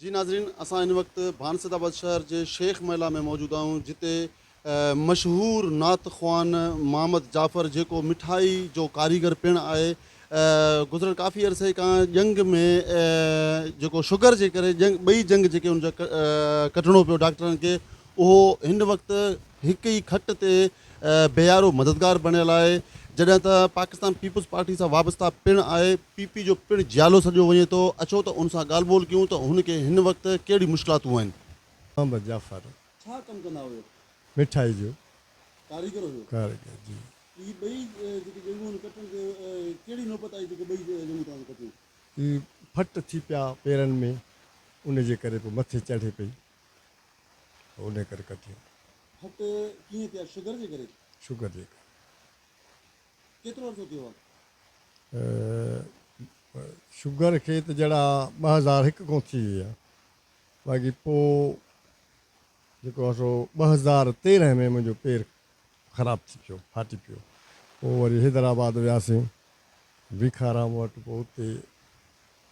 جي ناظرين اسان هن وقت ڀانسد آباد شهر جي شيخ محلا ۾ موجود آهيون جتي مشهور نعت خوان محمد جعفر جيڪو مٺائي جو ڪاريگر پڻ آهي گذريل ڪافي عرصي کان ڄنگهه ۾ جيڪو شگر جي ڪري ڄنگ ٻئي ڄنگ جيڪي ان جا ڪٽڻو پيو ڊاڪٽرن کي اهو هن وقت هڪ ئي کٽ تي بيارو مددگار بڻيل آهي، جڏهن ته پاڪستان پيپلز پارٽي سان وابسته پڻ آهي، پي پي جو پڻ جيالو سڏيو وڃي ٿو، اچو ته ان سان ڳالهه ٻولهه ڪيون ته هن کي هن وقت ڪهڙي مشڪلاتون آهن. محمد جعفر. ڇا ڪم ڪندا هيو؟ مٺائي جو. ڪاريگر هيو؟ ڪاريگر جي. ته هي ٻئي جيڪي ڄنگهون آهن ڪٽڻ تي ڪهڙي نوبت آئي جيڪي ٻئي ڄنگهون توهان کي ڪٽيون؟ هي ڦٽ ٿي پيا پيرن ۾ ان جي ڪري پوء مٿي چڙهي پئي. انهي ڪري ڪٽيو. ڦٽ ڪيئن ٿيا شگر جي ڪري. شگر جي ڪري. ڪيترو عرصو ٿيو آ. شگر کي ته جهڙا ٻه هزار هڪ کان ٿي وئي آ باقي پو جيڪو آ سو ٻه هزار تيرنهن ۾ منهنجو پير خراب ٿي پيو ڦاٽي پيو پو وري حيدرآباد وياسين ڀيکارام وٽ پو اتي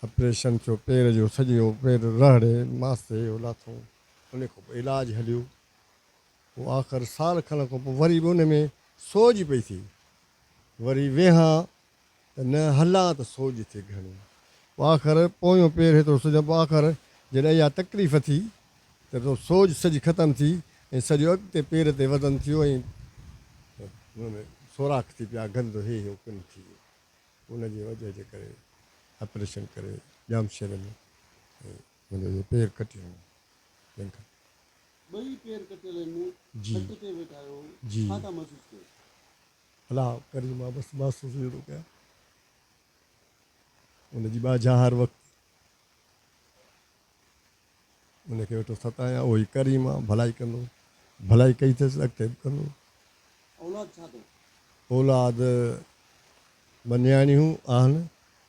آپريشن ٿيو پير جو سڄو پير رهڙي ماستي جو لاٿئون انهي کان پوء علاج هليو پوء آخر سال کن کان پوء وري به انهي ۾ سوڄ پئي ٿئي وري ويهان ته نه هلان ته سوڄ ٿئي گهڻي پوء آخر پويون پير هيترو سوڄان پوء آخر جڏهن اها تڪليف ٿي ته سوڄ سڄي ختم ٿي ۽ سڄو اڳتي پير تي وزن ٿيو ۽ ان ۾ سوراخ ٿي پيا گند هي هو ڪن ٿي ويو ان جي وجهه جي ڪري آپريشن ڪري ڄامشوري ۾ منهنجو اهو پير ڪٽي هنيو جنهن کان. ٻئي پير ڪٽيل هن جي کٽ تي ويٺا آهيو جي ڇا ٿا محسوس ڪيو؟ الله ڪريم آ بس محسوس اهو ٿو ڪيان ان جي ٻاجهه هر وقت. ان کي ويٺو ستايان، اهو ئي ڪريم آ، ڀلائي ڪندو. ڀلائي ڪئي اٿس، اڳتي به ڪندو. اولاد ڇا اٿو؟ اولاد ٻه نياڻيون آهن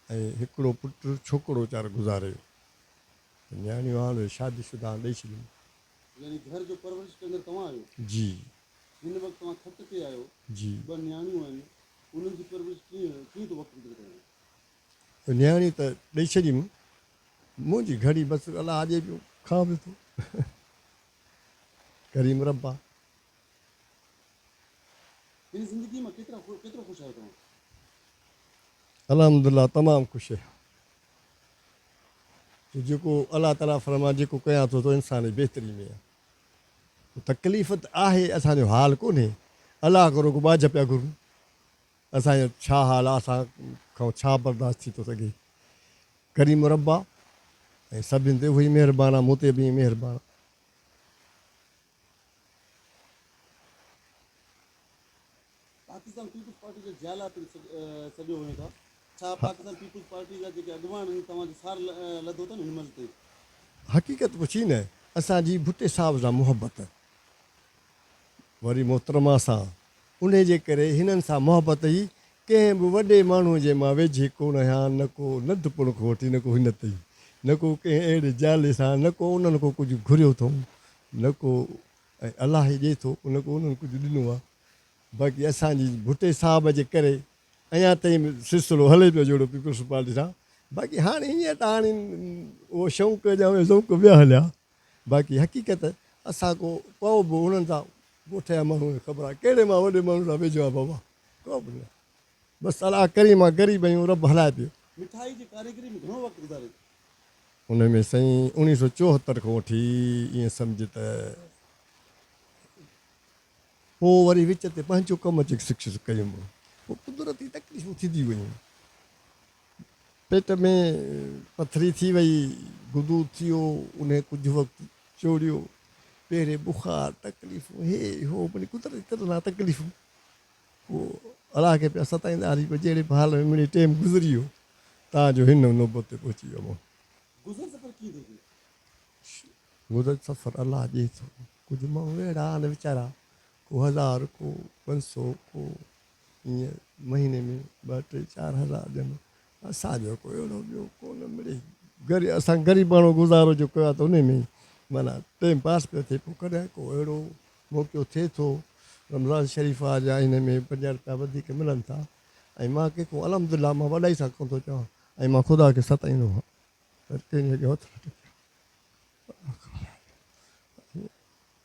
۽ هڪڙو پٽ، ڇوڪرو ويچارو گذاري ويو. ته نياڻيون آهن، اهي شادي شده آهن، ڏئي ڇڏيم. يعني گهر جو پرورش ڪندڙ توهان آهيو؟ جي. هن وقت توهان کٽ تي آهيو. جي. ٻه نياڻيون آهن، انهن جي پرورش ڪيئن، ڪيئن ٿو وقت گذري توهان جو؟ نياڻي ته ڏئي ڇڏي مون منهنجي گهڙي بس الا اڄي پيو کان به ٿو ڪريم ربا. پنهنجي زندگي مان ڪيترا ڪيترو خوش آهيو توهان. الحمدالله تمام خوش آهيان جو جيڪو الله تعالي فرمان جيڪو ڪيان ٿو تو انسان جي بهتري ۾ آهي تڪليف ته آهي اسان جو حال ڪونهي الله ڪرو ڪو ٻاجهه پيا گهرون اسان جو ڇا حال آ اسان کان ڇا برداشت ٿي ٿو سگهي ڪريم رب آ ۽ سڀن تي اهوئي مهربان آ مون تي به ائين مهربان آ. پاڪستان پيپلز پارٽي جا جيالا پڻ سڏيو وڃو ٿا ڇا پاڪستان پيپلز پارٽي جا جيڪي اڳواڻ آهن توهان جو سار لڌو اٿن هن مهل تائين؟ حقيقت پڇي نه اسان جي ڀٽي صاحب سان محبت وري محترمه سان انهي جي ڪري هنن سان محبت ئي ڪنهن به وڏي ماڻهو جي مان ويجهي ڪو نه هيان نه ڪو ننڍ پڻ کان وٺي نه ڪو هن تئين نه ڪو ڪنهن اهڙي جالي سان نه ڪو انهن کان ڪجهه گهريو اٿئون نه ڪو ۽ الله ئي ڏئي ٿو نه ڪو انهن ڪجهه ڏنو آ باقي اسان جي ڀٽي صاحب جي ڪري اڃا تئين به سلسلو هلي پيو جهڙو پيپلز پارٽي سان باقي هاڻي هينئر ته هاڻي اهو شوق ڄام ذوق ويا هليا. باقي حقيقت اسان ڪو ڪو به انهن سان ڳوٺ يا ماڻهو ۽ خبر آهي ڪهڙي مان وڏي ماڻهو سان ويجهو آهي بابا ڪو به نه بس الله ڪريم آهي غريب آهيون رب هلائي پيو. مٺائي جي ڪاريگري ۾ گهڻو وقت گذاريو ٿا. ان ۾ سائين اوڻيهه سؤ چوهتر کان وٺي ائين سمجهه ته پوء وري وچ تي پنهنجو ڪم جيڪي سڪسيس ڪيم پوء قدرتي تڪليفون ٿينديون ويون. پيٽ ۾ پٿري ٿي وئي، گدو ٿيو، انهي ڪجهه وقت چوڙيو، پهرين بخار، تڪليفون، هي هو مڙئي قدرتي طرح سان تڪليفون، پوء الله کي پيا ستائيندا هلي پوء جهڙي به حال ۾ مڙئي ٽيم گذري ويو تان جو هن نوبت تي پهچي ويو مون. گذر سفر ڪيئن ٿو ٿئي؟ شو. گذر سفر الله ڏئي ٿو، ڪجهه ماڻهو اهڙا آهن ويچارا ڪو هزار ڪو پنج سئو ڪو. ائين مهيني ۾ ٻه ٽي چار هزار ڏين اسان جو ڪو اهڙو ٻيو ڪو نه مڙي غري اسان غريب ماڻهو گذارو جو ڪيو آهي ته انهي ۾ ئي معنيٰ ٽيم پاس پيو ٿئي پوء ڪڏهن ڪو اهڙو موقعو ٿئي ٿو رمضان شريف آ جا انهي ۾ پنجاهه رپيا وڌيڪ ملن ٿا ۽ مان ڪنهن کان الحمدلله مان وڏائي سان ڪونه ٿو چوان ۽ مان خدا کي ستائيندو هان ته ڪنهن جي اڳيان هٿ نه ٽيڪيو آهي.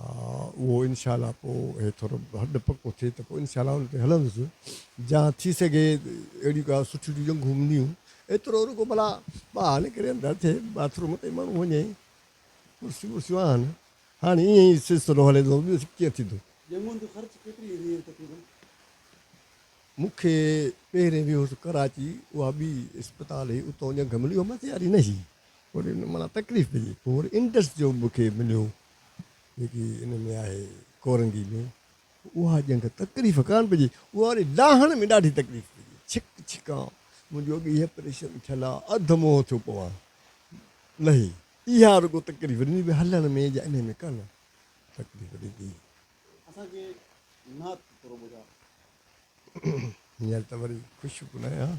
اهو انشاء الله پوء هي ٿورو هڏ پڪو ٿئي ته پوء انشاء الله ان تي هلندس جا ٿي سگهي اهڙيون ڪا سٺيون چيزون گهمنديون ايترو رڳو ڀلا ٻاهر نڪري اندر ٿي باٿ روم تائين ماڻهو وڃي ڪرسيون ورسيون آهن هاڻي ائين ئي سلسلو هلي ٿو ٻيو ڪيئن ٿيندو. جنگون جي خرچ ڪيتري ايندي هئي تقريبن؟ مون کي پهرين ويهوس ڪراچي اها ٻي اسپتال هئي اتان جنگ ملي هئي مٿي واري نه هئي. وري ان معنيٰ تڪليف ڏني. پوء وري انڊس جو مون کي مليو جيڪي ان ۾ آهي ڪورنگي ۾، اها ڄنگ تڪليف ڪانه پئي ڏي، اها وري ڊاهڻ ۾ ڏاڍي تڪليف پئي ڏي، ڇڪ ڇڪان، منهنجو اڳ ئي اپريشن ٿيل آ، اڌ منهن ٿيو پوان، لهي، اها رڳو تڪليف ڏني به هلڻ ۾ جا انهي ۾ ڪانه تڪليف ڏني. اسان کي نعت ٿورو ٻڌاء. هينئر ته وري خوش به نه آهيان.